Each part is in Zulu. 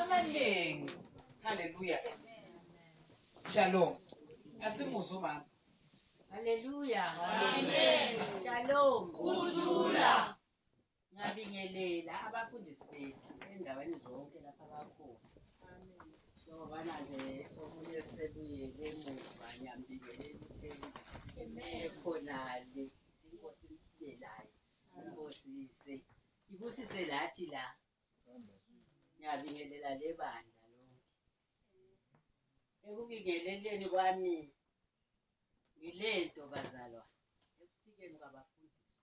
amaningi haleluya shalom asimuzwe umama haleluya amen shalom kuthula ngabingelela abafundisi bethu endaweni zonke lapha bakhona njengobana nje omunye sebuyele emuva ngiyambingelela ukuthi ekhonale inkosi sibelayo inkosi ise ibusise lathi la ngiyabingelela le bandla lonke ekubingeleleni kwami ngile nto bazalwa ekufikeni kwabafundisi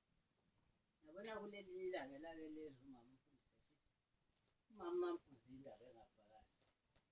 nabona kuleli ilanga elake lezwi umama umfundisi esithi umama amfundisi indaba engafakazi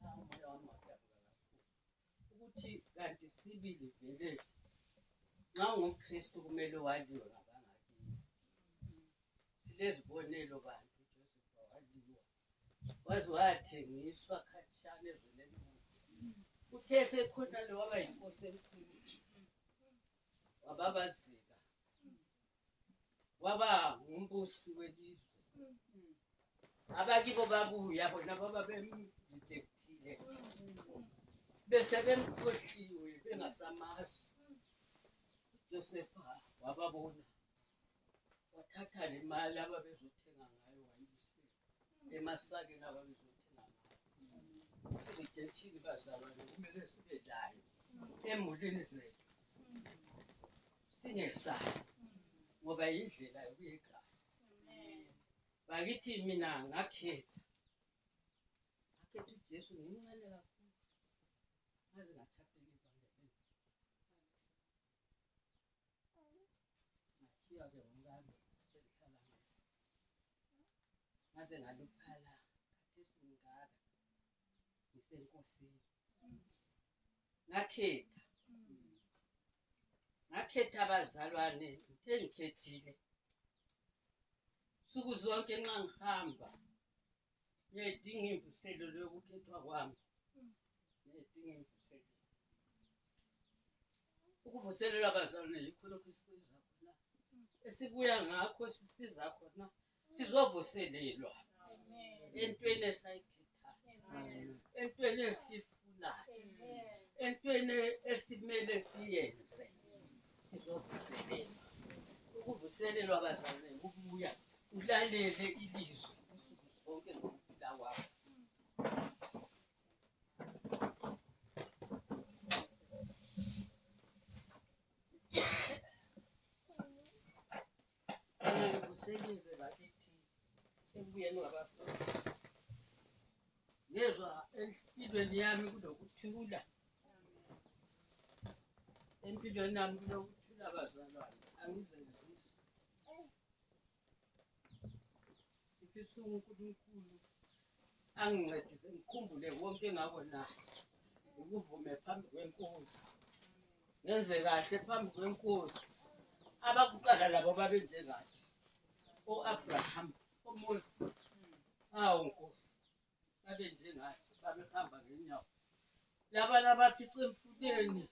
Umoya wami wadabuka kakhulu ukuthi kanti sibili vele nxa ungumKristu kumele waliwe ngabangakini. Silezibonelo bantu uJoseph waliwa waze wathengiswa khatshana ezweni elikude. Uthe esekhona lo waba yinkosi enkulu wababazeka waba ngumbusi welizwe abakibo babuya bona baba bemdidekthile bese bemkhohliwe bengasamazi josefa wababona wathatha le mali ababezothenga ngayo wayibusela emasakeni ababezothela ngayo sibejethile bazalwane kumele sibe nayo emulini zethu singesayo ngoba yindlela yokuyekhaya bakithi mina ngakhetha ngakhetha ujesu ngimncane kakhulu ngaze ngathatha ngathiya ke umkami sengihlala ngaze ngaluphala khathesi ngingaka ngisenkosini ngakhetha ngakhetha abazalwane ngithe ngikhethile nsuku zonke nxa ngihamba Ngiyayidinga imvuselelo yokukhethwa kwami. Ngiyayidinga imvuselelo. Ukuvuselelwa abazalwane yikho lokhu esikuyenza khona. Esibuya ngakho esisiza khona sizovuselelwa entweni esayikhethayo. Entweni esif esikufunayo entweni esimele siyenze sizovuselelwa ukuvuselelwa bazalwane ukubuya ulalele ilizwi usuku zonke ngokuphila kwakho Ngivuselile bakithi ekubuyeni kwabafundisi. Ngezwa empilweni yami kunokuthula. Empilweni yami kunokuthula bazalwane, angizenzisi. Ngifisa uNkulunkulu angincedise ngikhumbule konke engakonayo ngikuvume phambi kwenkosi ngenze kahle phambi kwenkosi abakuqala labo babenze kahle o-abraham omosi awu nkosi babe njengathi babehamba ngenyawo laba labafica emfuleni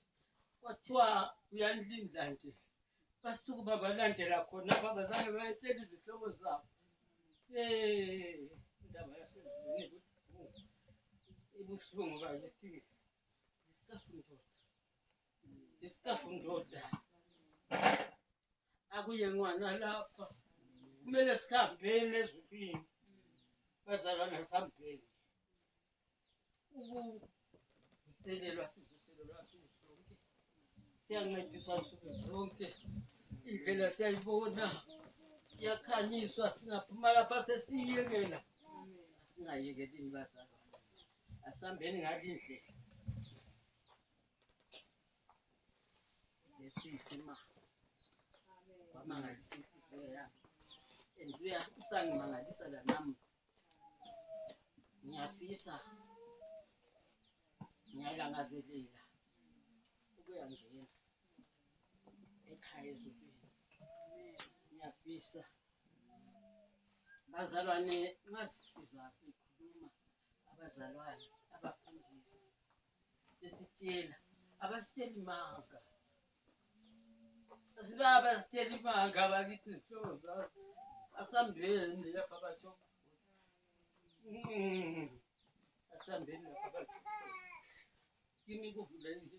kwathiwa uyanilindla nje basuke babalandela khona babazange bayethela izihlobo zabo indaba yaseziningi ibuhlungu bakithi isitafu ndoda isitafu ndoda akuyengwana lapha kumele sihambeni ezulwini bazalwana sihambeni ukuvuselelwa sivuselelwa nsuku zonke siyancediswa nsuku zonke indlela siyayibona iyakhanyiswa singaphuma lapha sesiyiyekela singayekelini bazalwana asihambeni ngale indlela Ngehlise ma. Kwamangalisa inhliziyo yami. And uya usangimangalisa la nami. Ngiyafisa. Ngiyalangazelela. Ukuya ngena. Ekhaya ezulwini. Ngiyafisa. Bazalwane ngasizwa ikhuluma abazalwane abafundisi besitshela abasitsheli manga asibaba sitsheli manga abakithi zihlobo zabo asambeni lapha batho mm. asambeni lapha batho kimi kuvulekile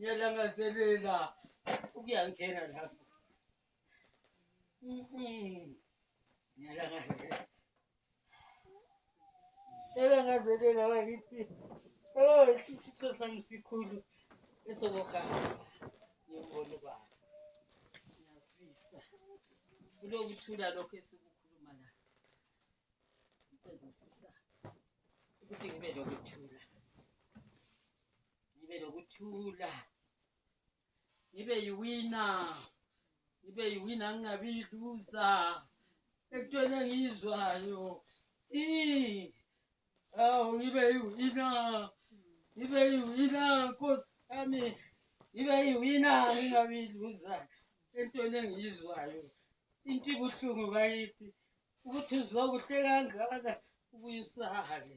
ngiyalangazelela ukuyangena lapho ngiyalangazelela elangazelela bakithi o oh, isifiso sami sikhulu esokuhamba ngiyobona ubaba ngiyafisa kulokuthula lokho esikukhuluma la ngifisa ukuthi ngibe lokuthula ngibe nokuthula ngibe yiwina ngibe yiwina ngingabi yiluza ekutweni engiyizwayo awu ngibe yiwina ngibe yiwina nkosi yami ngibe yiwina ngingabi yiluza entweni engiyizwayo into ibuhlungu bakithi ukuthi uzokuhle kangaka ubuye usale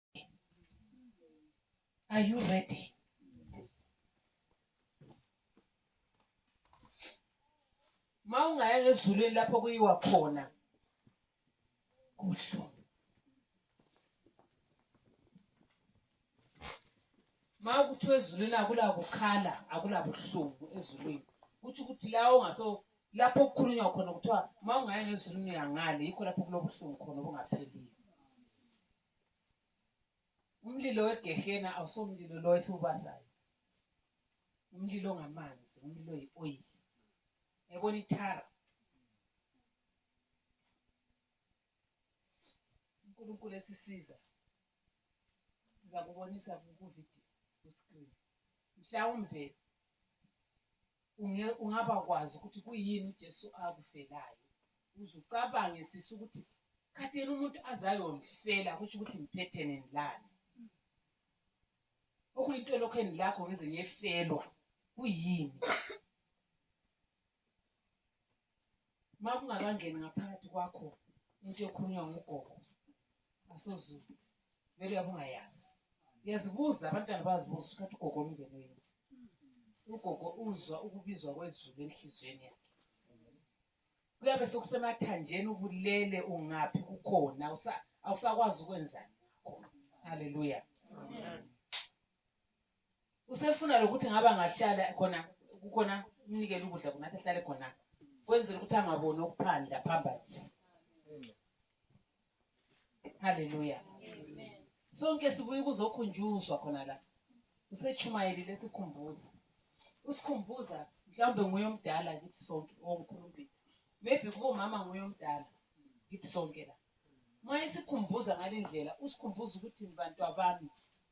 Are you ready? Ma ungaya ngezulwini lapho kuyiwa khona kuhlu ma kuthiwa ezulwini akulakukhala akulabuhlungu ezulwini kutho ukuthi la ongaso lapho kukhulunywa khona kuthiwa ma ungaya ngezulwini uyangale yikho lapho kulobuhlungu khona obungaphelile Umlilo wegehena awusomlilo lo esiwubasayo. Umlilo ngamanzi, umlilo yi-oil. Yabona ithara. uNkulunkulu esisiza siza kubonisa kuvidiyo ku-screen mhlawumbe Unge, ungaba kwazi ukuthi kuyini uJesu akufelayo. Uze ucabange sisi ukuthi kade yena umuntu azayongifela kusho ukuthi ngiphethe nenilani. Okuyinto lokho enilakho ngize ngiyefelwa kuyini? makungakangeni ngaphakathi kwakho into ekhulunywa ngugogo asozulu vele uyabe ungayazi uyazibuza abantwana bayazibuza ukuthi ugogo omndeni wenu ugogo uzwa ukubizwa kwezulu enhliziyweni yakhe kuyabe sokusemathanjeni ubulele ungaphi kukhona awusakwazi ukwenzani ngakho haleluya usefuna lokuthi ngabe angahlala khona kukhona umnikele ukudla kungathi ahlale khona kwenzela ukuthi angaboni okuphandle aphambanise haleluya sonke sibuye kuzokhunjuzwa khona la usechumayeli lesikhumbuza usikhumbuza mhlawumbe nguye omdala kithi sonke ongkhulumbile maybe kubo mama nguye omdala kithi sonke la uma isikhumbuza ngale ndlela usikhumbuza ukuthi bantu abami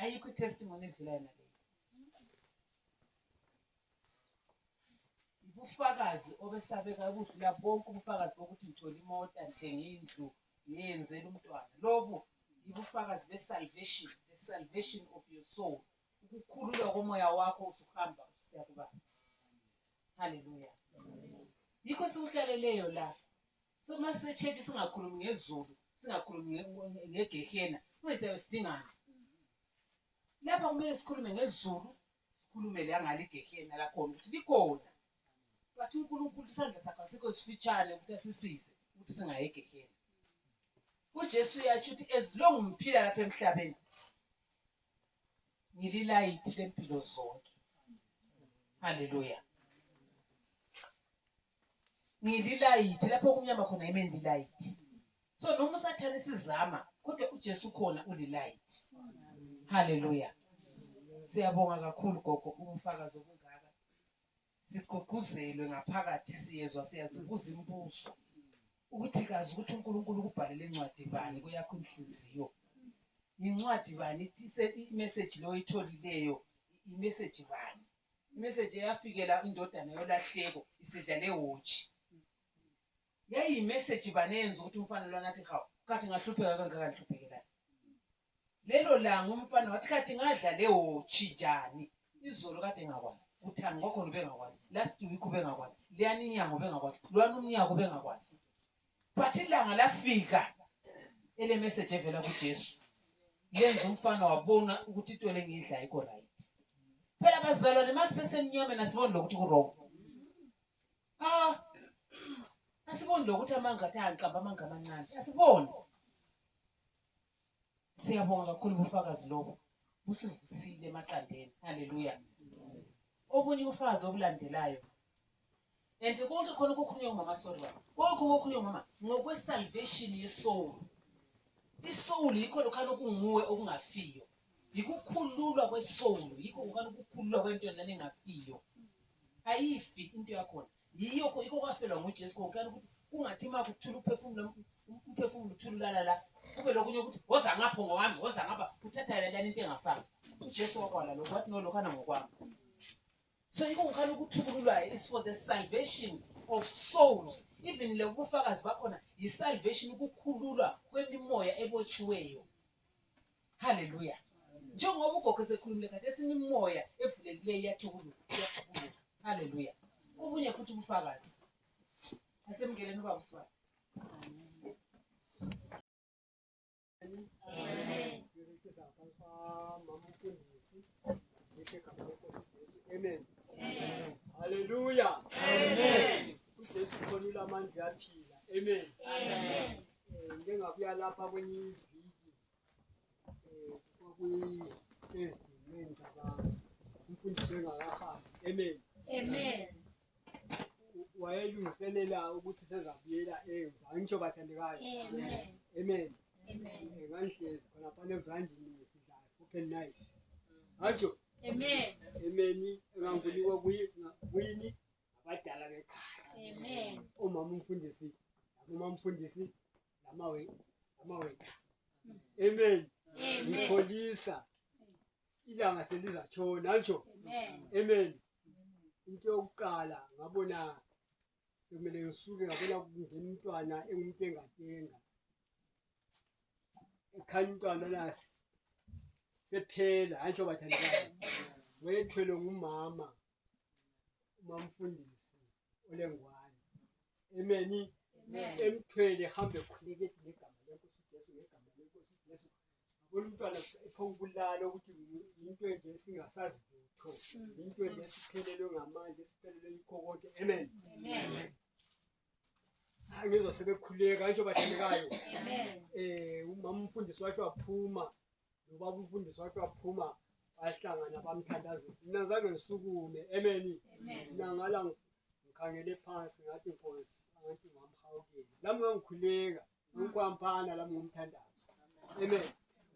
ayikho itestimony edlula yona leyo ubufakazi obesabeka ukudlula bonke ubufakazi bokuthi ngithole imota nje ngindlu ngiyenzela umntwana lobu ibufakazi be-salvation the salvation of your soul ukukhululwa komoya wakho usuhamba usuya kubaba halleluya yikho sikuhlaleleyo la So uma sisechurch singakhulumi ngezulu, singakhulumi nge- ngegehena, uma siyabe sidingana. Lapha kumele sikhulume ngezulu, sikhulume la ngale igehena lakhona ukuthi likhona. But uNkulunkulu isandla sakhe asikho sifitshane ukuthi asisize ukuthi singayi egehena. UJesu uyatsho ukuthi as long ngiphila lapha emhlabeni ngililayithi lempilo zonke. Hallelujah. ngililayithi lapho kumnyama khona yime ndilayithi so noma usathane sizama kodwa ujesu khona ulilayithi haleluya siyabonga kakhulu gogo ubufakazi obungaka sigqugquzelwe ngaphakathi siyezwa siyazibuza imibuzo ukuthi kazi ukuthi unkulunkulu ukubhalele incwadi bani kuyakho inhliziyo yincwadi bani imeseji leyo oyitholileyo imeseji bani Imeseji eyafikela indodana yolahleko isidlale wotshi. Yayiyimeseji bani eyenza ukuthi umfana lona athi hawu khathi ngahlupheka kangaka ngihluphekelayo. Lelo langa umfana wathi khathi ngadlale wotshi njani. Izolo kade ngakwazi, uthani kwakhona ubengakwazi, last week ubengakwazi, liyani inyanga ubengakwazi, lwani umnyaka ubengakwazi. but ilanga lafika ele message evela kuJesu yenza umfana wabona ukuthi into lengidla ayikho right phela bazalwane masisesemnyame nasiboni lokuthi kurong ah asiboni lokuthi amanga athi angiqamba amanga amancane asiboni Siyabonga kakhulu ubufakazi lobo. Busivusile emaqandeni. Haleluya. Obunye ubufakazi obulandelayo. And konke khona kukhulunywa umama sorry baba. Konke kokhulunywa umama ngokwe salvation ye soul. I soul yikho lokhana okunguwe okungafiyo. Yikukhululwa kwe soul, yikho lokhana ukukhululwa kwento lana engafiyo. Ayifi into yakhona. Yiyokho ikho kwafelwa nguJesu kokuyana ukuthi kungathi uma kuthula uphefumulo umphefumulo uthululana la kube lokunye ukuthi woza ngapho ngowami woza ngapha uthatha yona lani into engafani uJesu wakwala lokho wathi nolokhana ngokwami so yiko ngikhana ukuthukululwa is for the salvation of souls even le bufakazi bakhona yi-salvation ukukhululwa kwemimoya ebotshiweyo Hallelujah. Njengoba ugogo esekhulumile kade sinimoya evulekileyo iyathukuluka iyathukuluka. Hallelujah. Ubunye futhi ubufakazi. Asemngeleni ubaba uSibani. Amen. Amen. Amen. Hallelujah. Amen. UJesu khonile amandla aphila. Amen. Amen. Eh, ngike ngabuya lapha kwenye iviki wayelungiselela ukuthi sezabuyela emva angisho bathandekayo amen ngangihlezi khonaphana evandini sidlala open night angisho amen amen enganguliwa kuyini abadala bekhaya amen umama umfundisi umama umfundisi amaweka amen ngikholisa ilanga selizatshona ngisho amen into yokuqala ngabona sekumele ngisuke ngabona kungena umntwana engumuntu engatenga ekhanya umntwana nasi sephela hayi njengoba thandekayo wethwelwe ngumama umamfundisi olengwane emeni emthwele hambe khuleke ngegama lenkosi Jesu ngegama lenkosi Jesu abona umntwana ephongubulala ukuthi into enje singasazi lutho mm. into enje esiphelelwe ngamandla esiphelelwe yikho konke amen amen angizwa sebekhuleka njengoba hlelekayo um eh, umama umfundisi washo waphuma nobaba umfundisi wathi waphuma bahlangana bamthandazela mina zange ngisukume emeni mina ngala ngikhangele phansi ngathi nkosi angathi ngamhawukela lami ngangikhuleka ngikwamphana lami ngumthandazo amen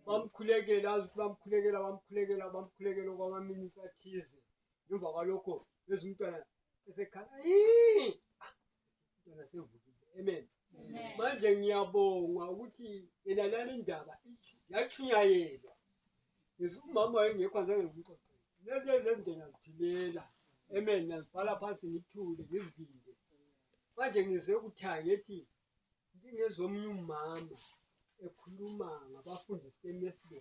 bamkhulekela azi ukuthi bamkhulekela bamkhulekela bamkhulekela okwamaminitsi athize ngemva kwalokho ezimntwana esekhala Amen. Manje ngiyabonga ukuthi yena lale ndaba yashunyayelwa. Yesu umama wayengekho azange ngimqoqe. Lezi ezenze ngazithilela. Amen. Ngazibhala phansi ngithule ngizivinde. Manje ngize ukuthayi ngithi ngingezomunye umama ekhuluma ngabafundisi beMesbe.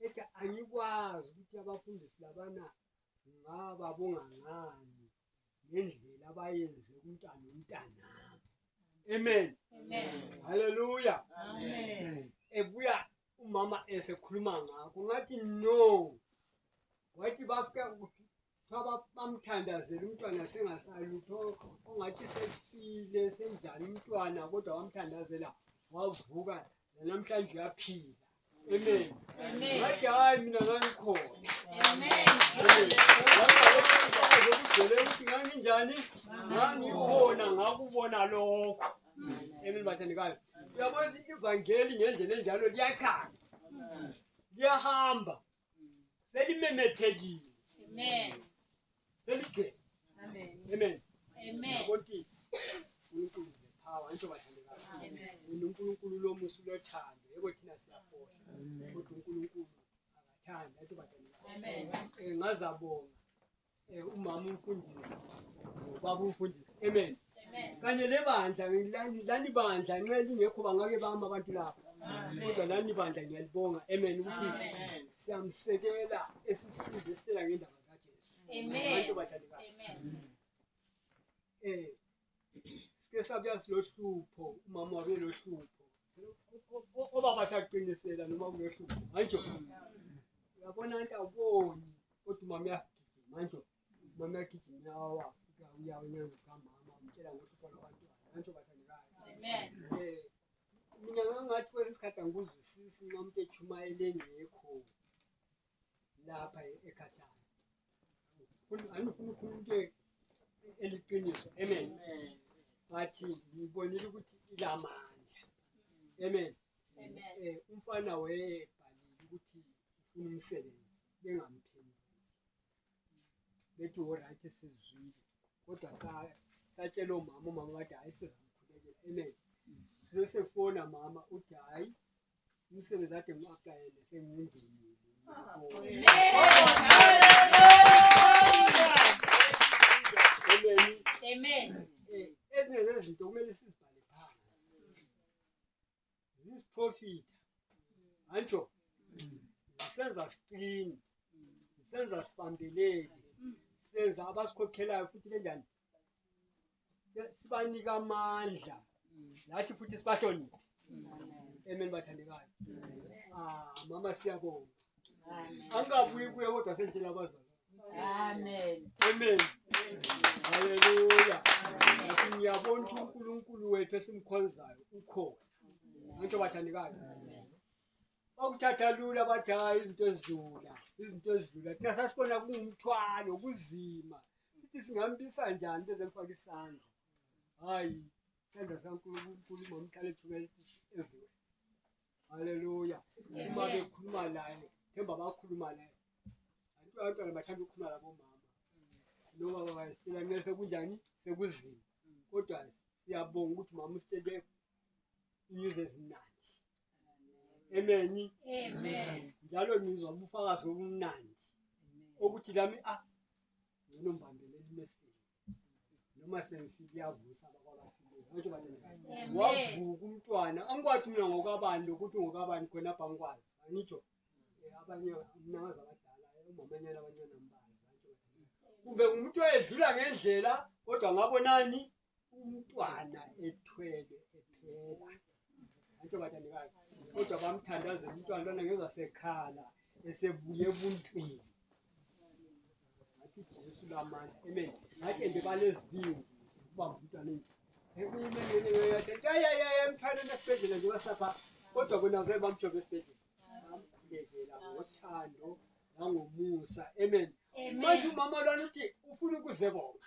Ethi angikwazi ukuthi abafundisi labana Ngingababonga ngani ngendlela abayenze kumntana umntanami. Amen. Amen. Hallelujah. Amen. Ebuya umama esekhuluma ngakho ngathi no. Wathi bafika ukuthi bamthandazela umntwana sengasalutho ongathi sefile senjani umntwana kodwa wamthandazela wavuka namhlanje uyaphila Amen. Amen. Ngathi hayi mina ngangikhona. Amen. Ngizele ukuthi nganginjani? Ngangikhona ngakubona lokho. Amen bathandikayo. Uyabona ivangeli ngendlela enjalo liyachaza. Liyahamba. selimemethekile Amen. seligcwele Amen. amen Amen. yakonti uNkulunkulu the power into bathandekayo Amen. wena uNkulunkulu lomusa ulothando yebo thina siyafola kodwa uNkulunkulu akathanda into bathandekayo Amen. Eh, ngazabonga Eh, umama umfundisi ubaba umfundisi amen kanye nebandla lani- lani bandla nxa lingekho bangake bami abantu lapha kodwa lani bandla ngiyalibonga amen ukuthi siyamsekela esisize esitela ngendaba kajesu Amen. Abantu bathandekayo. Amen. Eh, sike sabuya silohlupho umama wabe lohlupho obaba saqinisela noma kulohlupho manje uyabona nto awuboni kodwa umama uyagijima manje umama uyagijima uyawa uyawa inyanga zikamama umtshela ngohlupho lwabantwana manje bathandekayo mina ngangathi kwesikhathi angikuzwisisi nxa umuntu echumayele engekho lapha ekhathana angifuna ukhuluma into eliqiniso amen but ngibonile ukuthi ilamandla amen eh, umfana wayebhalile ukuthi ufuna umsebenzi bengamphenduli bethi oright sizwile kodwa satshela omama umama wathi hhayi sizamkhulekela amen sizesefona mama uthi hhayi umsebenzi ade ngiwaqayele sengingenile Amen. Ezinye zezinto kumele sizibhale phansi. Zisiprofitha. Anjo. Senza screen. Senza sibambeleke. Senza abasikhokhelayo futhi benjani? sibanike amandla nathi futhi sibahloniphe amen bathandekayo ah mama siyabonga angabuyi kuye kodwa sendlela abazali amen amen haleluya nathi ngiyabona ukuthi unkulunkulu wethu esimkhonzayo ukhona anto bathandekayo Bakuthatha lula bathi hayi izinto ezidlula, izinto ezidlula. Thina sasibona kungumthwalo, kuzima. Sithi singambisa njani beze mfaka isandla. Hayi, isandla sikaNkulunkulu mamqale thumela everywhere. Haleluya. Uma bekhuluma naye, themba bakhuluma naye. Antu abantwana bathanda ukukhuluma labomama. Noma baba sicela kumele sekunjani sekuzima. Kodwa siyabonga ukuthi mama usitshele inyuzi ezimnandi. emeni njalo ngizwa ubufakazi obumnandi okuthi lami ah ngcono mbambele limesini noma sengifike iyavusa wavuka umntwana angikwazi mina ngokabani lokuthi ngokabani khona apha ngikwazi angitsho eh, abanye mnakazi abadala eh, umamanyana abancane mbazi kumbe ngumuntu oyedlula ngendlela kodwa ngabonani umntwana ethwele ephela antsho bathandekazi kodwa bamthandaze umntwana lona ngezasekhala esebuye ebuntwini ngathi jesu lamandla amen ngathi ende balezibindi ukubamba umntwana endlini emthaneni esibhedlela nje wasapha kodwa kona vele bamjova esibhedlela bamkhulekela ngothando nangomusa amen manje umama lwana uthi ufuna ukuzebonga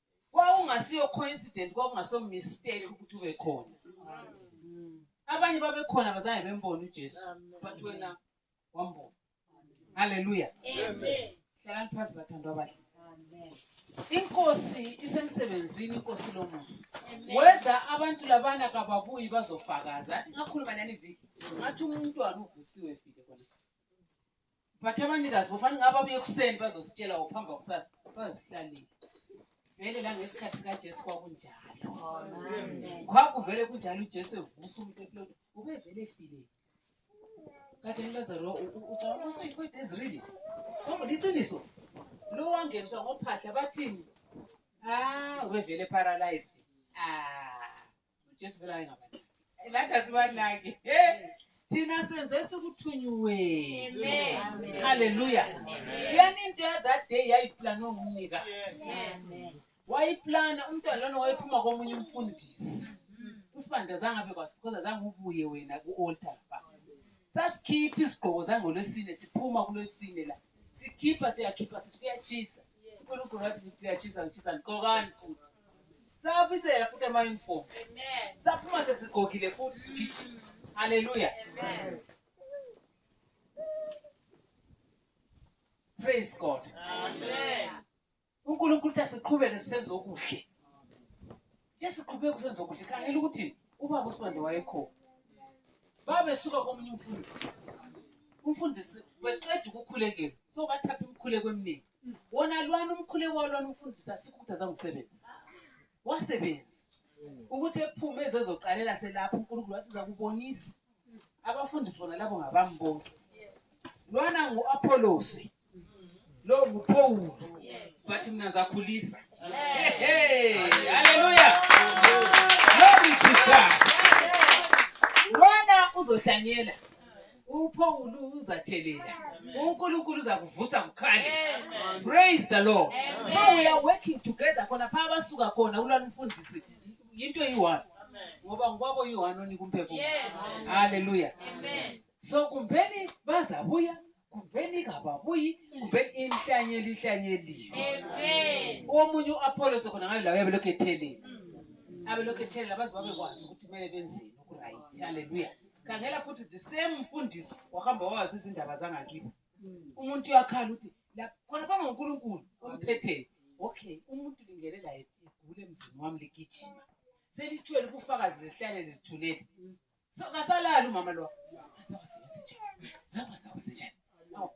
kwawungasiyo coincident kwakungaso mistake ukuthi ube khona abanye babekhona bazange bembone uJesu but wena wambona haleluya amen hlalani phansi bathandwa abahle amen inkosi isemsebenzini inkosi lomusa whether abantu labana kababuyi bazofakaza athi ngakhuluma nani viki ngathi umntwana uvusiwe vile kona But abanikazi bofana ngaba buye kuseni bazositshela ukuphamba kusasa bazihlalile. Vele la ngesikhathi sika Jesu kwakunjalo. Kwakuvele kunjalo uJesu evusa umuntu eplot ubevele efile. Kade niLazaro ucabanga ukuthi uyikwete ezirili. Kodwa liqiniso. Lo wangeniswa ngophahla bathini? Ah, ubevele paralyzed. Ah. uJesu vele ayengabanaki nathi asibanaki thina senze sikuthunyiweni haleluya yani into ya that day yayiplanwe ngumnikazi wayiplana umntwana lona wayephuma komunye umfundisi usibanda zangabe kwasi because azange ubuye wena ku-altar ba sasikhipha isigqoko zangolwesine siphuma kulwesine la sikhipha siyakhipha sithi kuyatshisa unkulunkulu wathi ngiyajisa ngijisa ngigqokani futhi sabisela futhi ama-uniform saphuma sesigqokile futhi sigijima halleluya praise god unkulunkulu uthi asiqhubeke sisenza okuhle Ke siqhubeke usenza okuhle. Khangela ukuthi ubaba uSibande wayekhona. Babesuka komunye umfundisi. Umfundisi weqeda ukukhulekela. So bathapha imikhuleko eminingi. Wona lwana umkhuleko walwana umfundisi asikhuthazanga umsebenzi. Wasebenza. Ukuthi ephume ezezoqalela selapha uNkulunkulu wathi zakubonisa. Abafundisi bona labo ngabami bonke. Lwana ngu-Apolosi. Love uphowulu. But mina zakhulisa. Hey, hey, hallelujah. Glory to God. Lona uzohlanyela. uphowulu uzathelela unkulunkulu uzakuvusa kukhale praise the lord so we are working together khona phaa basuka khona ulwana umfundisi yinto eyi-one ngoba ngokwabo yi-one onika umphefumulo halleluya so kumbeni bazabuya kumbeni ingababuyi kumbeni inhlanyeli ihlanyeliwe omunye u-apholo sekhona ngale lawo yabelokhu etheleni mm. abelokhu ethelela baze babekwazi ukuthi kumele benzeni okurayithi halleluya khangela futhi the same mfundiso wahamba wawazi izindaba zangakibo mm. umuntu uyakhala ukuthi khona phambi ngonkulunkulu omphetheni okay umuntu lingelela egule emzini wami ligijima selithwele ubufakazi zesihlane lizithulele mm. Kasalala umama lo.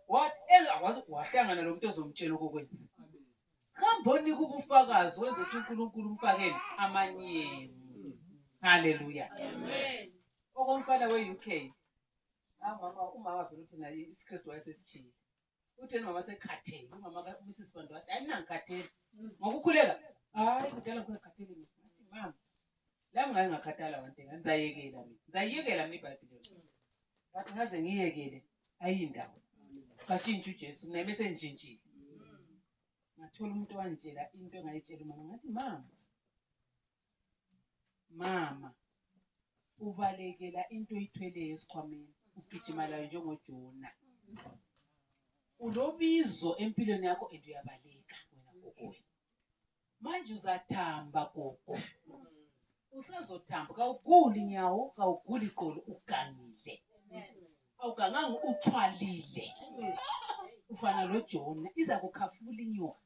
What? Akwazi wahlangana lo muntu ozomtshela okokwenza. Hamboni kubufakazi wenze ukuthi uNkulunkulu umfakele amanyeni. Hallelujah. Amen. Okomfana we-UK. Ah mama umama vele uthi naye isiKristu wayesesijile. utheni mama sekhathele umama mrs bantu wathi hayi nangikhathele mm. ngokukhuleka hayi kudala ngikhathele mama la ngayo ngakhathala wante ngizayekela mina ngizayekela mina ibhayibhile but ngaze ngiyekele ayindawo katshintsha ujesu mina bese ngitshintshile ngathola umuntu wangitshela into engayitshela umama ngathi mama mama ubalekela into oyithweleyo esikhwameni ugijima layo njengojona unobizo empilweni yakho and uyabaleka wena gogo wena manje uzathamba gogo usazothamba kawuguli nyawo kawuguli qolo ugangile awuganganga uthwalile ufana lojona iza kukhafula inyoka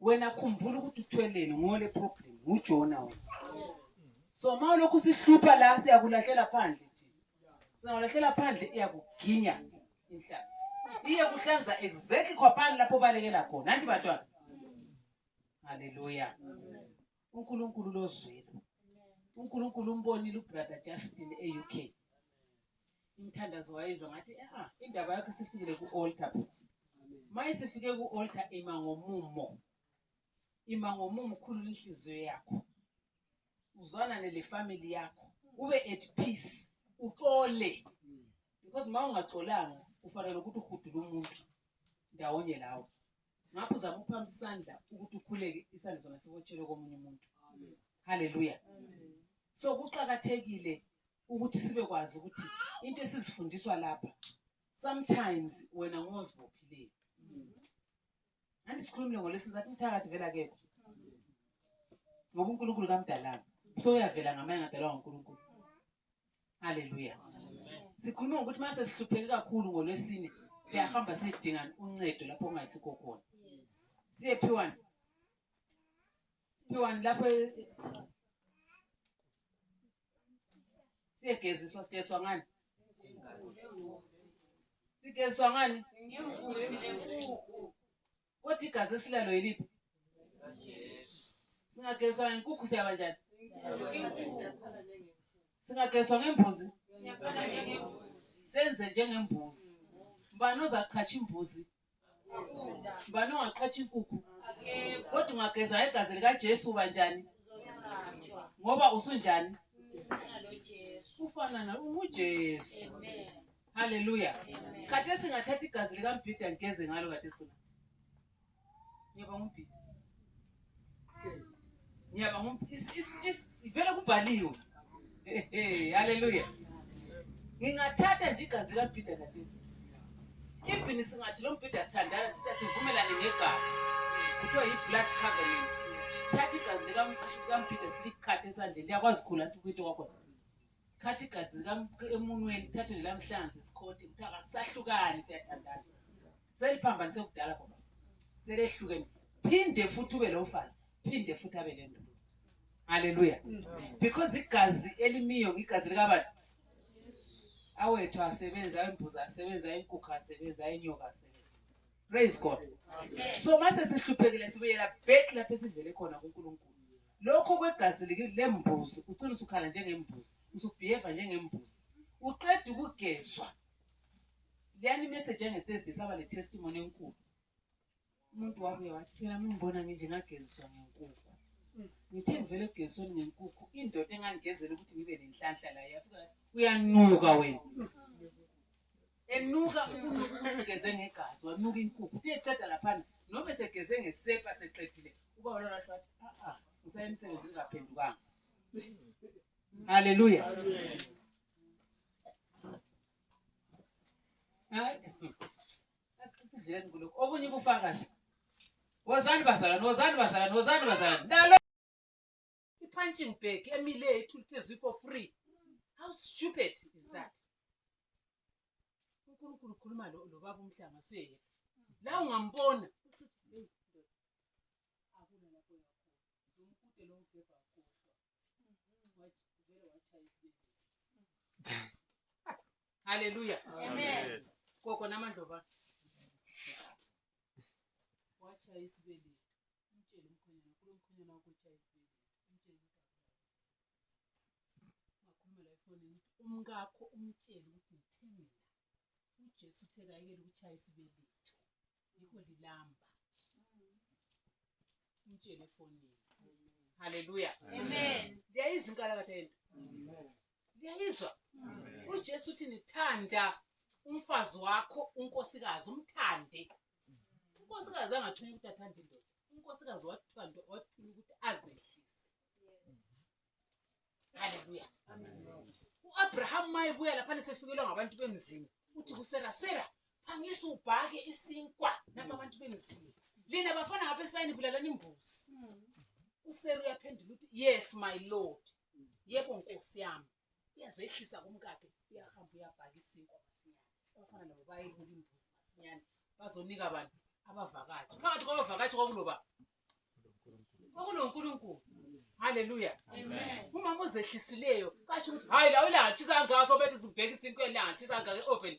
wena khumbula ukuthi uthweleni ngole problem ngujona wena so uma ulokhu sihlupha la siyakulahlela phandle singakulahlela phandle iyakuginya inhlanzi iye kuhlanza exactly khwaphani lapho ubalekela khona nanti bantwana haleluya uNkulunkulu lozwelo uNkulunkulu umbonile ubrother Justin eUK imthandazo wayizwa ngathi ah indaba yakho isifikile kualtar futhi maye sifike kualtar ima ngomumo ima ngomumo khulu inhliziyo yakho uzwana nele family yakho ube at peace uxole because mawungaxolanga ufanele ukuthi uhudule umuntu ndawonye lawo ngakho zama ukuphamisa isandla ukuthi ukhuleke isandla sona sibotshelwe komunye umuntu haleluya so kuqakathekile ukuthi sibe kwazi ukuthi into esizifundiswa lapha sometimes wena ngozibophileyo andisikhulumile ngolesini sathi umthakathi vela kekho ngoba unkulunkulu kamdalanga so uyavela ngamanye ngadalwa ngunkulunkulu Haleluya. Sikhuluma ngokuthi mase sihlupheke kakhulu ngolwesine siyahamba sidinga uncedo lapho kungasikho khona. Siye phiwani. Phiwani lapho siyegeziswa sigeziswa ngani? Sigeziswa ngani? Ngembuzi lenkukhu. Kodwa igazi esilalo yeliphi? Singagezwa ngenkukhu siyaba njani? Singagezwa ngembuzi? Senze njengembuzi. Mbani ozaqhatsha imbuzi? Mbani ongaqhatsha inkukhu? Kodwa ungageza ngegazi likaJesu uba njani? Ngoba usunjani? Ufana na unguJesu. Amen. Haleluya. Khathesi ngathatha igazi likambhida ngigeze ngalo khathesi khona. Ngiyaba ngumbhida. Ngiyaba ngumbhida. Ivele kubhaliwe. Haleluya. Ngingathatha nje igazi likambhida khathesi. Even singathi lo mbhida sithandana sithi sivumelane ngegazi. Kuthiwa yi-blood covenant. Sithatha igazi likambhida silikhathe esandleni. Liyakwazi khula ukuthi kwakhona. Thatha igazi likam emunweni, thathe nelamhlanzi isikhothi ukuthi akasahlukani siyathandana. Seliphambanise kudala ngoba selehlukene. Phinde futhi ube lo mfazi, phinde futhi abe le ndoda. Haleluya. Because igazi elimiyo ngigazi likabani? Awethu asebenza imbuza, asebenza inkukhu, asebenza inyoka, asebenza praise god so mase sihluphekile sibuyela back lapho esivele khona kuNkulunkulu lokho kwegazi lembuzi ucina usukhala njengembuzi usubehave njengembuzi uqeda ukugezwa leyani message yange-thursday saba le-testimony enkulu umuntu wabuye wathi phela mungibona nginje ngageziswa ngenkukhu ngithe ngivele egezisweni ngenkukhu indoda engangigezela ukuthi ngibe nenhlanhla la yafika uyanuka wena enuka ukunuka ukuthi ugeze ngegazi wanuka inkukhu uthe eqeda laphana noma esegeze ngesepa seqedile uba wona washo wathi a-a ngisaye emsebenzini ngaphendukanga halleluya asidleni kulokhu obunye ubufakazi wozani bazalwane wozani bazalwane wozani bazalwane i-punching bag emile ethulithezwi for free how stupid is that unkulunkulu ukhuluma lo baba umhlanga suyeyeka la ungambona haleluya koko namandloba wachaya isibeleli umtshele umkhwenyana kulo mkhwenyana wakho utshaye isibeletho umtshele ukuthi ungakhulumela efonini ukuthi umkakho umtshele ukuthi ngithe mina ujesu uthe kayekele ukutshaya isibeletho yikho lilamba umtshele efonini haleluya liyayizinkala kade yento liyayizwa ujesu uthi nithanda umfazi wakho unkosikazi umthande unkosikazi angathula ukuthi athanda indoda unkosikazi wathiwa nto wathula ukuthi azehlise haleluya u-abraham uma ebuya lapha nesefikelwa ngabantu bemzini uthi kusera sera phangisa ubhake isinkwa nabo abantu bemzini lina bafana ngapha esibayeni bulalani imbuzi usera uyaphendula ukuthi yes my lord yebo nkosi yami uyazehlisa kumkakhe uyahamba uyabhaka isinkwa masinyane abafana nabo bayebula imbuzi masinyane bazonika abantu abavakashi phakathi kwabavakashi kwakuloba kwakunonkulunkulu haleluya umama ozehlisileyo kasho ukuthi hayi la ulangatshisa ngaso bethu sibheka isinkwa elangatshisa ngake oveni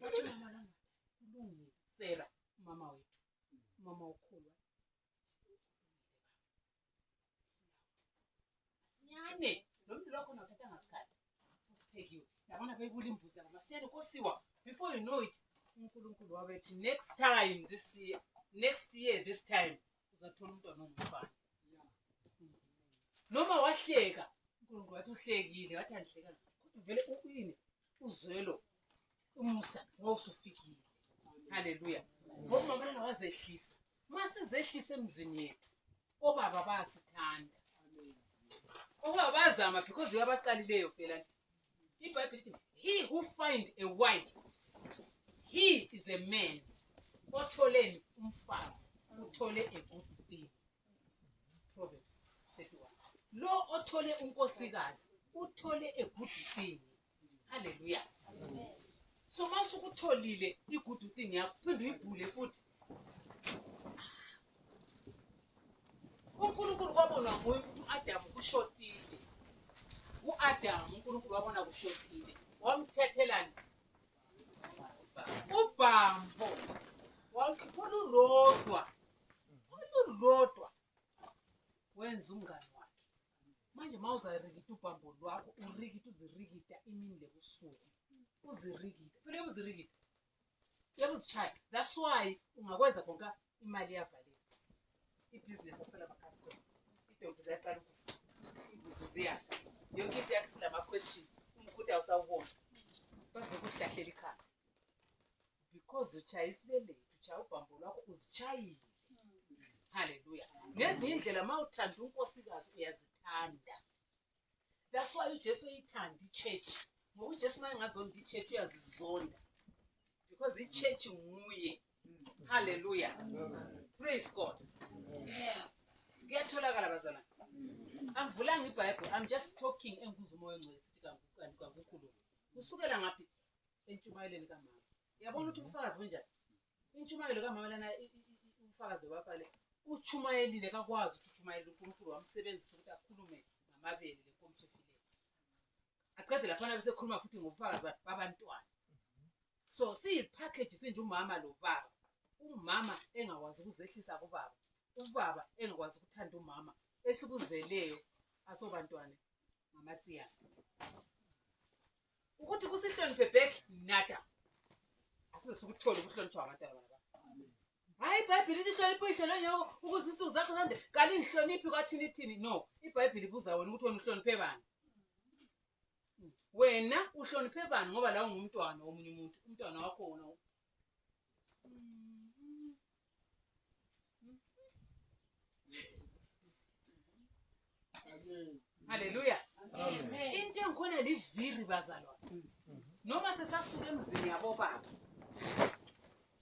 Wathi mama lana kulungile Sarah mama wethu mama ukhulwa. Nyane lomntu lokho ngathatha ngasikhathi kuphekiwe yabona beyibula imbuzi yabo masiyane kosiwa before you know it uNkulunkulu wabethi next time this year next year this time uzathola umntwana ongumfana noma wahleka uNkulunkulu wathi uhlekile wathi angihleka kodwa vele uyini uzwelo umusa ngowusufikile haleluya ngoba mabona wazehlisa masizehlisa emzini yethu obaba bayasithanda obaba bayazama because uyabaqalileyo phela ibhayibhile lithi he who find a wife he is a man otholeni umfazi uthole a good thing Proverbs 31. Lo othole unkosikazi uthole egudusini. Haleluya. So mase ukutholile igudu thing yakho phinde uyibhule futhi. uNkulunkulu kwabonwa nguye ukuthi uAdam kushotile. UAdam uNkulunkulu wabona kushotile. Wamthethelani? Ubhambo. Wawukhiphula urodwa. olulodwa wenza umngane wakhe manje uma uzarikita ubhambo lwakho urikita uzirikita imini lebusuku uzirikita phela yebo uzirikita yebo uzishaya that's why ungakwenza konka imali yavaleka ibhizinesi akusela makhasikona idonki ziyaqala ukufa imbuzi ziyafa yonke into yakhe sinama-question umguda usawubona bavekuhlahleli ikhaya because uchaye isibelethu uchaye ubhambo lwakho uzichayile haleluya ngezinye indlela uma uthanda unkosikazi uyazithanda that's why ujesu uyithanda ichurch ngoba ujesu uma engazonda ichurch uyazizonda because ichurch nguye haleluya praise god kuyatholakala bazana angivulanga ibhayibhile i'm just talking engibuza umoya ongcwele sithi kanti kwakukhulunywa kusukela ngaphi entshumayelweni kamama yabona ukuthi ubufakazi bunjani intshumayelo kamama lana i- i- i- i- ubufakazi bobafale utshumayelile kakwazi ukuthi utshumayele unkulunkulu wamsebenzisa ukuthi akhulume ngamabele lenkomishi efileyo aqede laphana besekhuluma futhi ngobufakazi ba- babantwana so siyiphakheji sinje umama lo baba umama engakwazi ukuzehlisa kubaba ubaba engakwazi ukuthanda umama esikuzeleyo asobantwana mamatsiya ukuthi kusihloniphe back nada asizokuthola ukuhlonitshwa abantwana baba hayi ibhayibhile ithi hlonipha uyihlo lonyoko ukuze insuku zakho nande kanti ngihloniphi kwathini ithini no ibhayibhile ibuza wena ukuthi wena uhloniphe bani wena uhloniphe bani ngoba la ungumntwana womunye umuntu umntwana wakho wona haleluya into engikhona liviri bazalwa noma sesasuka emzini yabobaba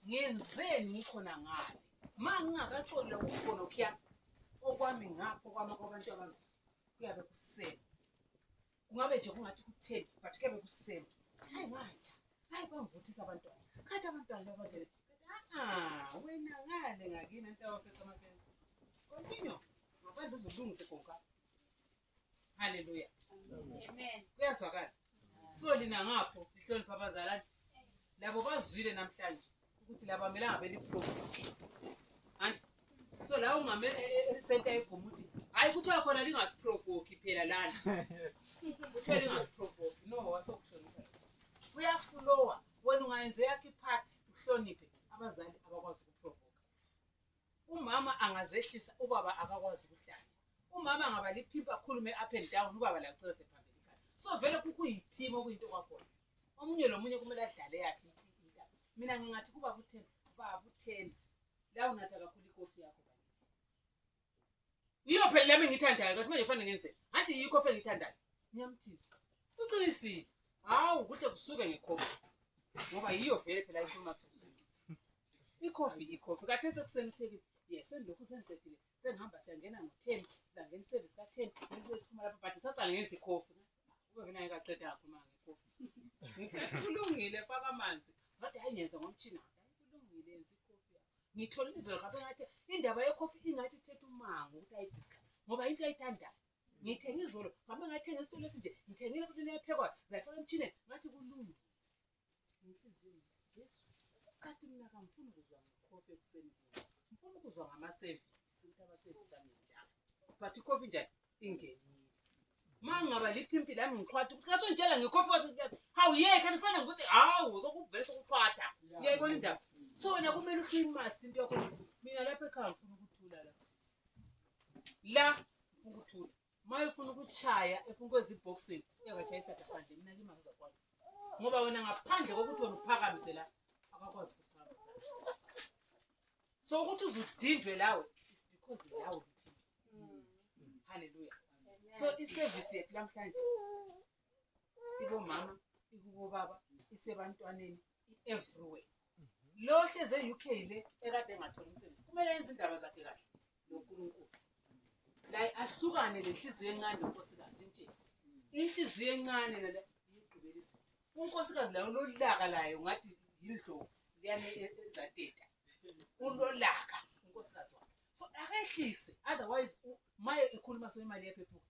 ngenzeni ngikhona ngale ma ngingakatholi lokukhona okuyami okwami ngapho kwama kwabantu abantu kuyabe kuseni kungabe nje kungathi kutheni but kebe kusema hayi watsha hayi bangivuthisa abantwana khathi abantwana labantwana a-a wena ngale ngakini antawaseqamafensi kontinyo ngaphandle uzolungise konka halleluya kuyazwakala so lina ngapho lihlonipha abazalane labo bazwile namhlanje ukuthi laba mele angabe liprofit anti so la ungame e- e- esenta egoma ukuthi hhayi kuthiwa khona lingasiprovoki phela lana kuthiwa lingasiprovoki no wasokuhlonipha uyafulowa wena ungayenze yakho iphathi uhloniphe abazali abakwazi ukuprovoka Umama angazehlisa ubaba akakwazi ukuhlala. Umama ngaba liphimpa akhulume up and down ubaba la kucela sephambili ikhaya. So vele kuyithima okuyinto kwakhona. Omunye lomunye kumele adlale yakhe indaba. Mina ngingathi kuba kuthena, baba uthena. La unatha kakhulu ikofi yakho bakithi. Yiyo phela lami ngithandayo kathi manje fanele ngenze. Ngathi yikho fe ngithandayo. Ngiyamthinta. Uqinisile. Hawu kuhle kusuke ngekhomba. Ngoba yiyo vele phela inkulumo ikhofi ikhofi kathi esekuseni uthekile ye sendilokhu sengiqedile sengihamba siyangena ngotheni sizangena iservice katheni nesesiphuma lapho but saqala ngenza ikhofi ubevenaye kaqeda akhuluma ngekhofi kulungile faka amanzi kodwa hayi ngenza ngomtshina kulungile yenza ikhofi yakho ngithole izolo kabe ngathi indaba yekhofi ingathi ithetha umango ukuthi ayidiscuss ngoba into ayithandayo ngithenge izolo kabe ngathenga esitolo esinje ngithengile futhi neyaphekwayo zayifaka emtshineni ngathi kulungile Inhliziyo Jesu kati mina kamfuni kuzwa ngikhofe ekuseni kuyo. Ngifuna ukuzwa ngama-service ukuthi ama-service ami njani. But ikhofi njani ingenile. Uma ngingaba liphimpi lami ngiqhwatha ukuthi kasongitshela ngikhofe ukuthi hawu yekhe kufanele ukuthi hawu sokuvele sokuqhwatha. Uyayibona indaba? So wena kumele uclean must into yakho ukuthi mina lapha ekhaya ngifuna ukuthula la. La ngifuna ukuthula. Uma efuna ukushaya, efuna ukwenza i-boxing, uyakashaya ihlathi phandle, mina kimi angizakwazi. Ngoba wena ngaphandle kokuthi wena uphakamise la, akakwazi ukuphakamise. So ukuthi uzudindwe lawe, it's because lawe uphindwe. Hallelujah. So i-service yethu namhlanje ibomama, ikubobaba, isebantwaneni, i-everywhere lo hlezi e-uk le ekade engatholi umsebenzi kumele yenze indaba zakhe kahle nonkulunkulu la ahlukane le nhliziyo encane nonkosikazi limtsheni inhliziyo encane nale yigqibela izinto unkosikazi layo lolaka layo ngathi yindlovu liyane e-, ezateta ulolaka unkosikazi wakhe so akehlise otherwise maye ekhuluma semali yaphephuka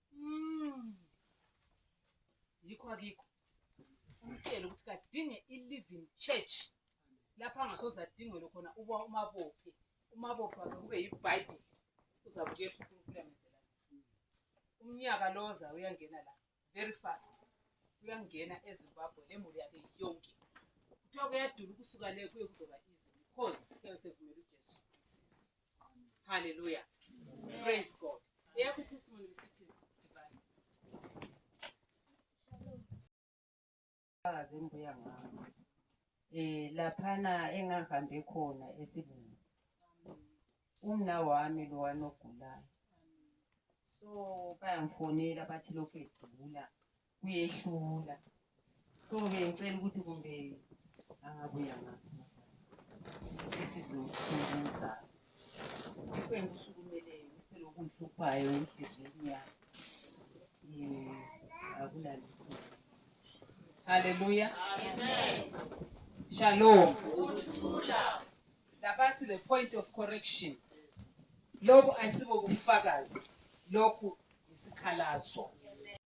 Mm. Yikho akikho. Umtshele ukuthi kadinge i-living church lapho angasoze adingele khona uba umabophe umabophe wakhe kube yibhayibhile uzabukela ukuthi unkulunkulu yamenzela umnyaka lo oza uyangena la very fast uyangena ezimbabwe le muli yakhe yonke kuthiwa kuyadula ukusuka le kuye kuzoba easy because kuyosevumela ujesu Hallelujah. Praise God. Eyakho testimony bisithi sibani? Bazi ngibuya ngakho. Eh laphana engahambe khona esibungu. Umna wami lo wanogulayo. So bayangifonela bathi lokhu egula. kuyehlula so bengicela ukuthi kumbe angabuya ngakho isizokusiza yikho engikusukumeleyo yikho lokungihluphayo enhliziyweni yami um akulalutho halleluya shalom lapha sile point of correction lobu ayisibo bufakazi lokhu yisikhalazo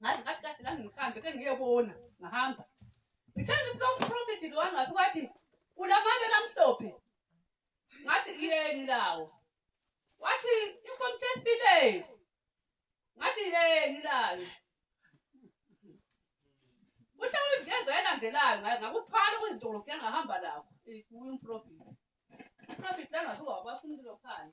ngathi ngathi kahle la ngihambe ke ngiyebona ngahamba ngithenga kuka umprofethi lo wangathi wathi ulamabele amhlophe ngathi yeni lawo wathi inkomo sefileni ngathi yeni layo uhlawula imjeza elandelayo ngakuphala kwezidolobhu yangahamba lakho umprofethi umprofethi langathi wabafuna ukuzophala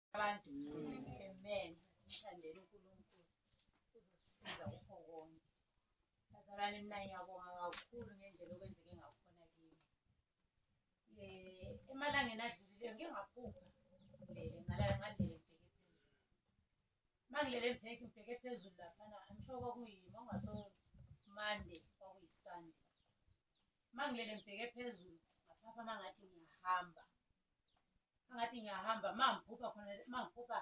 abantu amen sithandele uNkulunkulu uzosiza ukho konke bazalwane mina ngiyabonga kakhulu ngendlela okwenzeke ngakhona kimi eh emalangeni adlulile ngike ngaphupha ngilele ngalala ngalele mangilele ngibheke ngibheke phezulu laphana i'm sure kwakuyimi ongaso monday kwakuyisunday mangilele ngibheke phezulu ngaphapha mangathi ngiyahamba ngathi ngiyahamba ma ngiphupha khona ma ngiphupha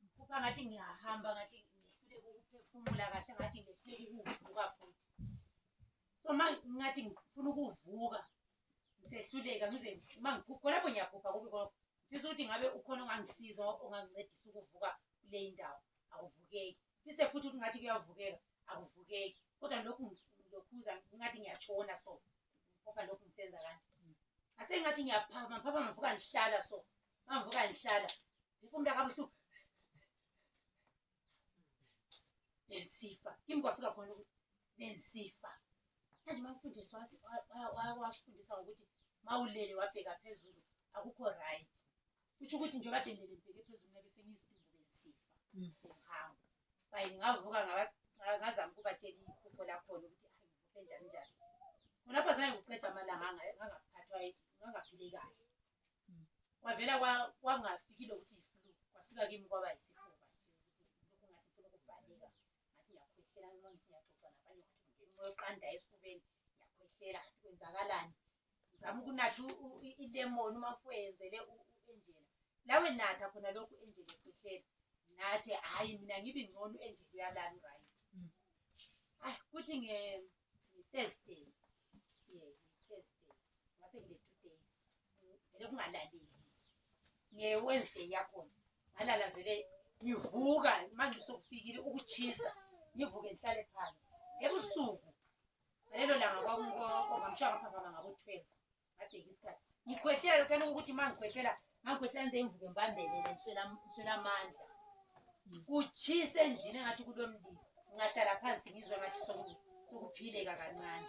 ngiphupha ngathi ngiyahamba ngathi ngehluleka ukuphefumula kahle ngathi ngehluleka ukuvuka futhi so ma ngathi ngifuna ukuvuka ngisehluleka ngize ma ngiphupha khonapho ngiyaphupha kubi kona ngifisa ukuthi ngabe ukhona ongangisiza ongangincedisa ukuvuka kule ndawo awuvukeki fise futhi ukuthi ngathi kuyavukeka akuvukeki kodwa lokhu ngilokhuza ngathi ngiyatshona so ngoba lokhu ngisenza kanje ase ngathi ngiyaphama phama ngivuka ngihlala so ngivuka ngihlala ngifuna umntu akabuhlungu bensifa kimi kwafika khona ukuthi bensifa manje uma mfundisi wasifundisa ngokuthi mawulele wabheka phezulu akukho right kusho ukuthi nje badendele ngibheke phezulu ngabe sengizidumbu besifa mm. ngihambo bayi ngavuka ngazama ukubatshela iphupho lakhona ukuthi hayi ngivuke njani njani khonapho zange ngiqeda amalanga angaphathwa ngangaphile kahle mm. kwavela kwangafikile ukuthi iflu kwafika kimi kwaba yisifuba nje ukuthi lokhu ngathi ngifuna ukuvaleka ngathi ngiyakhwehlela noma ngithi ngiyaxoxa nabanye ukuthi ngingena umoya oqandayo esifubeni ngiyakhwehlela ngathi kwenzakalani zama ukunatha ilemoni uma fuyenzele u-enjela lawe natha khona lokhu enjela ekuhleni nathi hhayi mina ngibe ngcono enjela uyalani right mm. hayi kuthi nge-thursday ye thursday ngase ngile-two days vele kungalaleli nge-wednesday yakhona ngalala vele ngivuka manje usokufikile ukuchisa ngivuke ngihlale phansi ebusuku ngalelo langa kwakunkoko ngamshiya ngaphaphama ngabo-twelve ngabheka isikhathi ngikhwehlela lokhu yaloku ukuthi uma ngikhwehlela ngangikhwehlela ngize ngivuke ngibambelele ngiswela amandla kutshisa endlini engathi kulo mlilo ngahlala phansi ngizwe ngathi sokuphileka kancane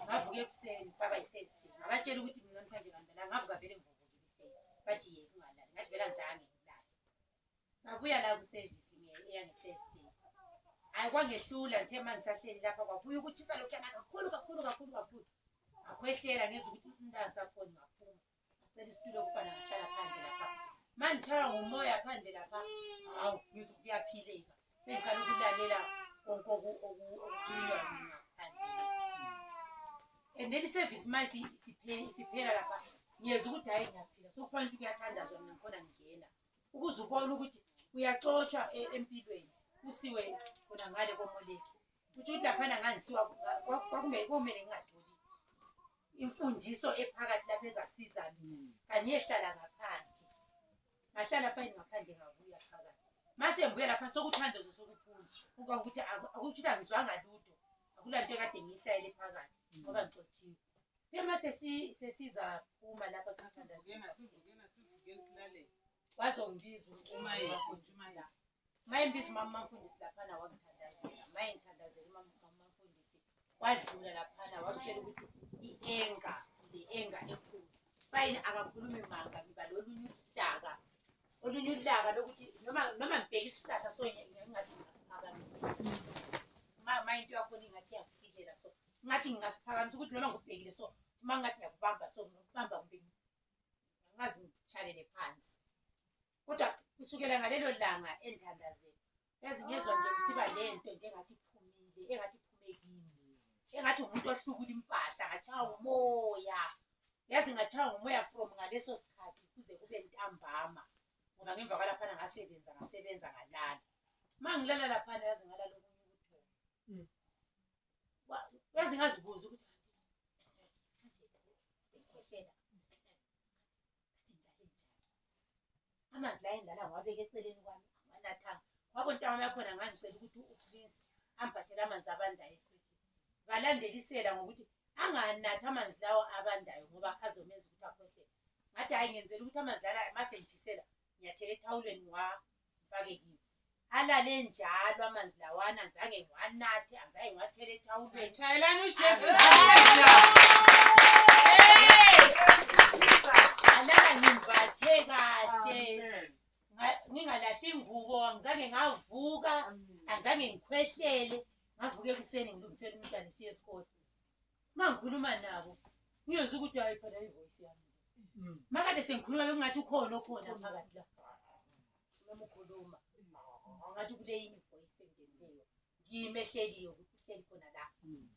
ngavuka ekuseni baba yi-first day ngabatshela ukuthi mina namhlanje ngandala ngavuka vele ngivuvukile i-first bathi yeke ungalali ngathi vele angizange Sabuya la kuservice ngeke eyange first day. Hayi kwangehlula nje manje sahleli lapha kwabuya ukuchisa lokho yana kakhulu kakhulu kakhulu kakhulu. Akhwehlela ngizwe ukuthi umntana sakhona ngaphuma. Ngicela isitulo kufana ngihlala phandle lapha. Manje thara ngomoya phandle lapha. Hawu ngizwe kuyaphileka. Sengiqala ukulalela konke okukhulunywa mina and then iservice ma siphela lapha ngiyeza ukuthi hhayi ngiyaphila sokufanele ukuthi kuyathandazwa mina ngikhona ngingena ukuze ubone ukuthi uyaxotshwa e-, empilweni kusiwe khona ngale komoleki kutho ukuthi laphana ngangisiwa kwakumele ngingatholi imfundiso ephakathi lapho ezasiza mina kanye ehlala ngaphandle ngahlala fayini ngaphandle ngabuya phakathi mase ngibuya lapha sokuthanda zo sokuphuma uba ukuthi akuthi angizwanga lutho akulanto ekade ngiyihlayele phakathi ngoba ngixotshiwe Sima sesi sesiza phuma lapha sisanda. Ngena sizungena sizungena silale. Wazongibiza uma yakho nje uma la. Maye mbiza mama mfundisi lapha na wakuthandazela. Maye ngithandazela mama mama mfundisi. Wadlula lapha na wakutshela ukuthi ienga le enga ekhulu. Bayini akakhulumi manga ngiba lolunye udaka. Olunye udaka lokuthi noma noma ngibheka isihlahla so ngingathi ngasiphakamisa. Mama into yakho ingathi yakufikela so ngathi ngingasiphakamisa ukuthi noma ngubhekile so uma ngathi ngiyakubamba so ngikubamba kumbe ngazi ngitshalele phansi kodwa kusukela ngalelo langa enthandazeni yazi ngezwa nje kusiba le nto njengathi iphumile engathi iphume kimi engathi umuntu ohlukula impahla ngatshawa umoya yazi ngatshawa umoya from ngaleso sikhathi kuze kube ntambama ngoba ngemva kwalaphana ngasebenza ngasebenza ngalala uma ngilala laphana yazi ngalala okunye ukuthola mm. yazi ngazibuza ukuthi amanzi la endala ngiwabeke eceleni kwami anganathanga wabo ntawami yakhona ngangicela ukuthi uprince ambhathele amanzi abandayo efrijini ngalandelisela ngokuthi anganathi amanzi lawo abandayo ngoba azomenza ukuthi akhohlele ngathi hhayi ngenzela ukuthi amanzi lala masengijisela ngiyathela ethawulweni wa ngifake kimi alale njalo amanzi lawana ngizange ngiwanathe angizange ngiwathele ethawulweni shayelani ujesu alala ngimbathe kahle ngingalahli ingubo angizange ngavuka angizange ngikhwehlele ngavuka ekuseni ngilungisela umntana siye esikole mangikhuluma nabo ngiyozwa ukuthi hayi phela ivoice yami mm. makade sengikhuluma bekungathi ukhona okhona phakathi la noma ukhuluma ngathi kule yini ivoice engenileyo ngiyimehleliyo ukuthi uhleli khona la mm.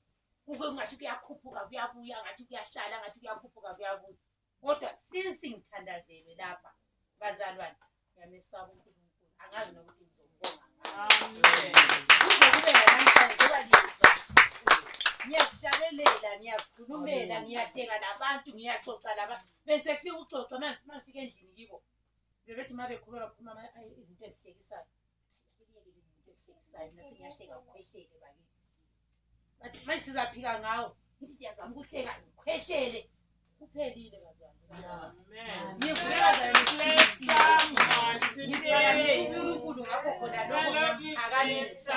kuke kungathi kuyakhuphuka kuyabuya ngathi kuyahlala ngathi kuyakhuphuka kuyabuya Kodwa since ngithandazelwe lapha bazalwane ngiyamesaba uNkulunkulu angazi nokuthi ngizomubonga ngani. Kuze kube namhlanje njengoba ngizwa ngiyazihlaleleka ngiyazikhulumela ngiyahleka nabantu ngiyaxoxa laba bese kufika uxoxa uma ngifike endlini kibo bebethi uma bekhuluma bakhuluma ama- ay- izinto ezihlekisayo bathi manje sizaphika ngawo ngithi ndiyazama ukuhleka ngikhwehlele kuphelile bazalngivuleazalngilesamunkulunkulu ngakho khona lokho akanisa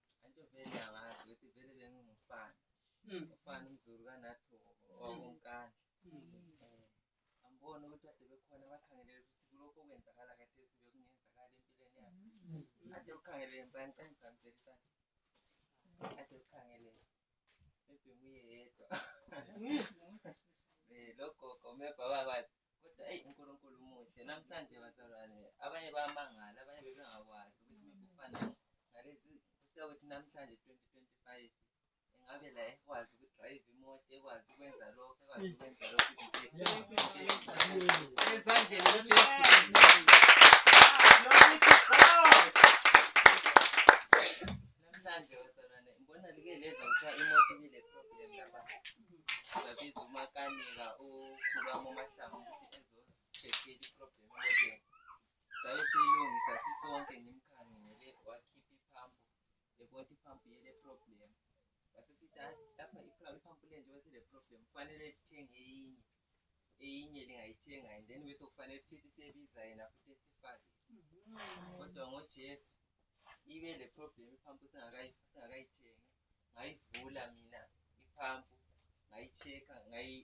Antsho vele angazi ukuthi vele bengingumfana. Mm. Ufana umzulu kanathu wakonkandla. Mm. Eh, ambona ukuthi ade bekhona bakhangelele ukuthi kulokho okwenzakala kathesi bekungenzakala empilweni yakhe. Mm. Ade ukhangelele mpani cela ngigqamisele isandla. Ade ukhangelele. Maybe nguye yedwa. Eh, logogo maybe abakwazi. kodwa eyi unkulunkulu umuhle namhlanje bazalwane abanye bayamangala abanye bebengakwazi ukuthi mekufana ngalezi sekuthi namhlanje 2025 engabe la ekwazi ukudrayive imoto ekwazi ukwenza lokho ekwazi ukwenza lokho ezandleni ujesu Namhlanje wazalwane ngibona like leza kuthiwa imoto ibile problem lapha. Sabiza umakanika ukhulwa momahlangu ukuthi ezocheckela iproblem emotweni. Sabe siyilungisa sisonke ngimkhangele wakhipha iphampu ebona iphampu yele problem. Wasesithi lapha iphampu lenje wesile problem kufanele lithenge eyinye. eyinye lingayithenga and then bese kufanele sithethe sebiza yena futhi esifake mm-hmm. kodwa ngojesu ibe le problem iphampu singakayithengi ngayivula mina iphampu ngayi-check-a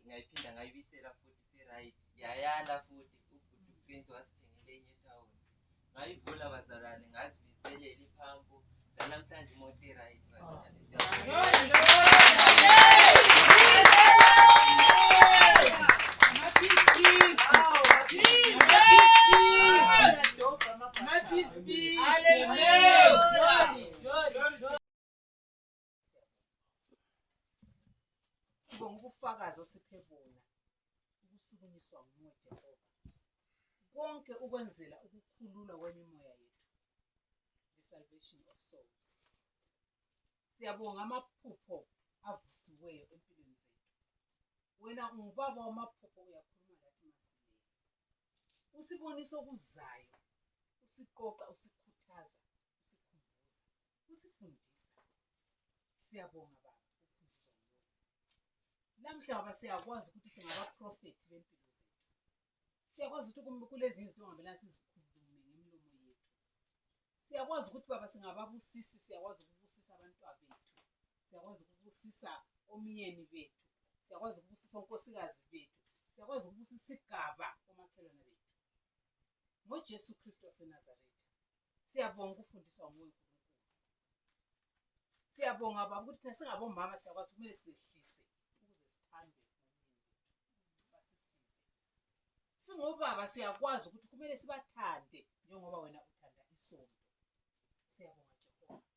ngayiphinda ngayibisela futhi si-right yayala futhi ubhuti uprince wasithengele enye etawuni ngayivula bazalwane ngazibizelela iphampu nanamhlanje imoto iright bazalwane Sibonga ubufakazi osiphe bona ukusukunyiswa nguwe Jehova. Konke ukwenzela ukukhululwa kwemimoya yethu. The salvation of souls. Siyabonga amaphupho avusiweyo empilweni zethu. Wena ungubaba wamaphupho uyakhuluma lathi masileyo. Usibonisa okuzayo, usiqoqa, usikhuthaza, usikhumbuza. usifundisa siyabonga baba uphunziswa nguwe namhla baba siyakwazi ukuthi singabaprofethi bempilo zethu siyakwazi ukuthi kulezi izinto ongabelana sizikhulume ngemlomo yethu siyakwazi ukuthi baba singababusisi siyakwazi ukubusisa abantwa bethu siyakwazi ukubusisa omyeni bethu siyakwazi ukubusisa onkosikazi bethu siyakwazi ukubusisa isigaba omakhelwane bethu ngojesu kristu wasenazaretha siyabonga ukufundiswa nguwe siyabonga baba ukuthi thina singabomama siyakwazi kumele sizehlise ukuze sithandwe basisize singobaba siyakwazi ukuthi kumele sibathande njengoba wena uthanda isonto siyabonga jehova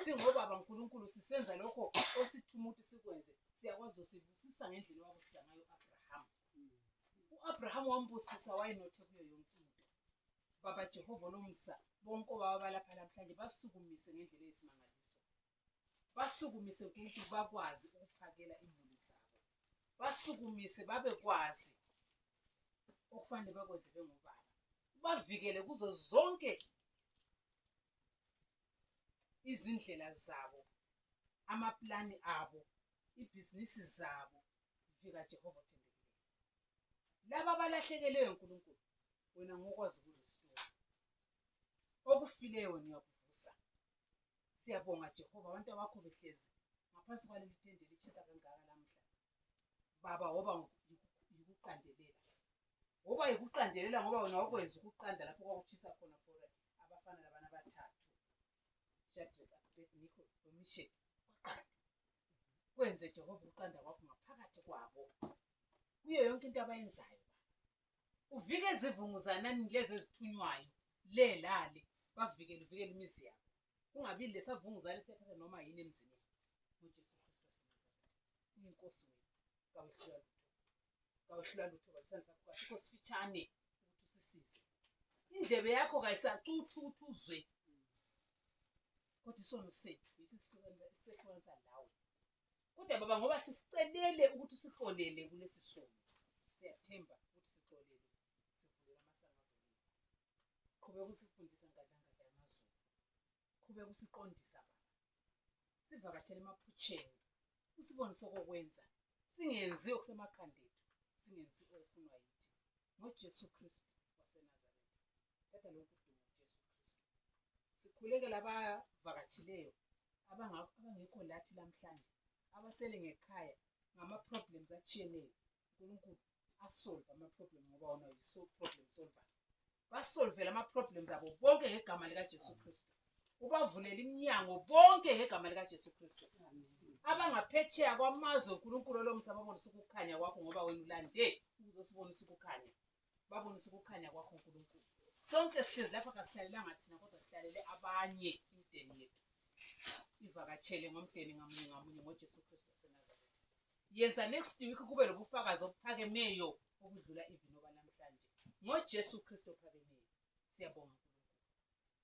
singobaba nkulunkulu sisenza lokho osithuma ukuthi sikwenze siyakwazi usibusisa ngendlela owabusisa ngayo u-abrahama u-abrahama wambusisa wayenothe kuyo yonke into Baba Jehova olomsa bonke obaba balapha namhlanje basukumise ngendlela eyisimangaliso basukumise nkulunkulu bakwazi ukuphakela imuli zabo basukumise babekwazi okufanele bakwenze bengobaba ubavikele kuzo zonke izindlela zabo amaplani abo ibhizinisi zabo vika Jehova othembekileyo. Laba abalahlekelwe uNkulunkulu wena ngokwazi ukulisiwa. Okufileyo wena uyakuvusa. Siyabonga Jehova abantu abakho behlezi ngaphansi kwaleli tende lishisa kangaka lamhla. Baba woba yikuqandelela. Woba yikuqandelela ngoba wena wakwenza ukuqanda lapho kwakuchisa khona for abafana labana abathathu. Shadrach, Abednego, noMisheki. kwenze Jehova ukuqanda kwakho ngaphakathi kwabo kuyo yonke into abayenzayo uvike izivunguzanani lezi ezithunywayo le lale bavikele uvikele imizi yabo kungabi lesavunguzane sethatha noma yini emzini yabo uJesu Kristu uyinkosi wethu kawehlula lutho kawehlula lutho kabisani sakho kasikho sifitshane ukuthi usisize indlebe yakho kayisacuthi ukuthi uzwe kodwa isono sethu yithi sihlukanisa nawe kodwa baba ngoba sisicelele ukuthi sixolele kulesi sono siyathemba ukuthi sixolele sivulela amasango qhubeka usifundisa ngadlangadla yamazulu qhubeka usiqondisa baba sivakashele emaphutsheni usibone sokokwenza singenzi okusemakhandethu singenzi okufunwa yithi ngoJesu Kristu waseNazaretha. Qeda lokhu kuduma uJesu Kristu. Sikhuleke labavakatshileyo abangekho lathi lamhlanje abasele ngekhaya ngama-problems atshiyeneyo unkulunkulu asolve ama-problem ngoba wona yiso problem solver basolvele ama-problems abo bonke ngegama likajesu kristu ubavulele iminyango bonke ngegama likaJesu Kristu abangaphetsheya kwamazwe uNkulunkulu olomsa babonise ukukhanya kwakho ngoba wena ulande ukuzosibonisa ukukhanya babonise ukukhanya kwakho uNkulunkulu sonke sihlezi lapha kasihlalelanga thina kodwa sihlalele abanye imdeni yethu ivakatshele ngomdeni ngamunye ngamunye ngoJesu Kristu waseNazaretha yenza next week kube lobufakazi obuphakemeyo obudlula ivinoba namhlanje ngoJesu Kristu ophakemeyo siyabonga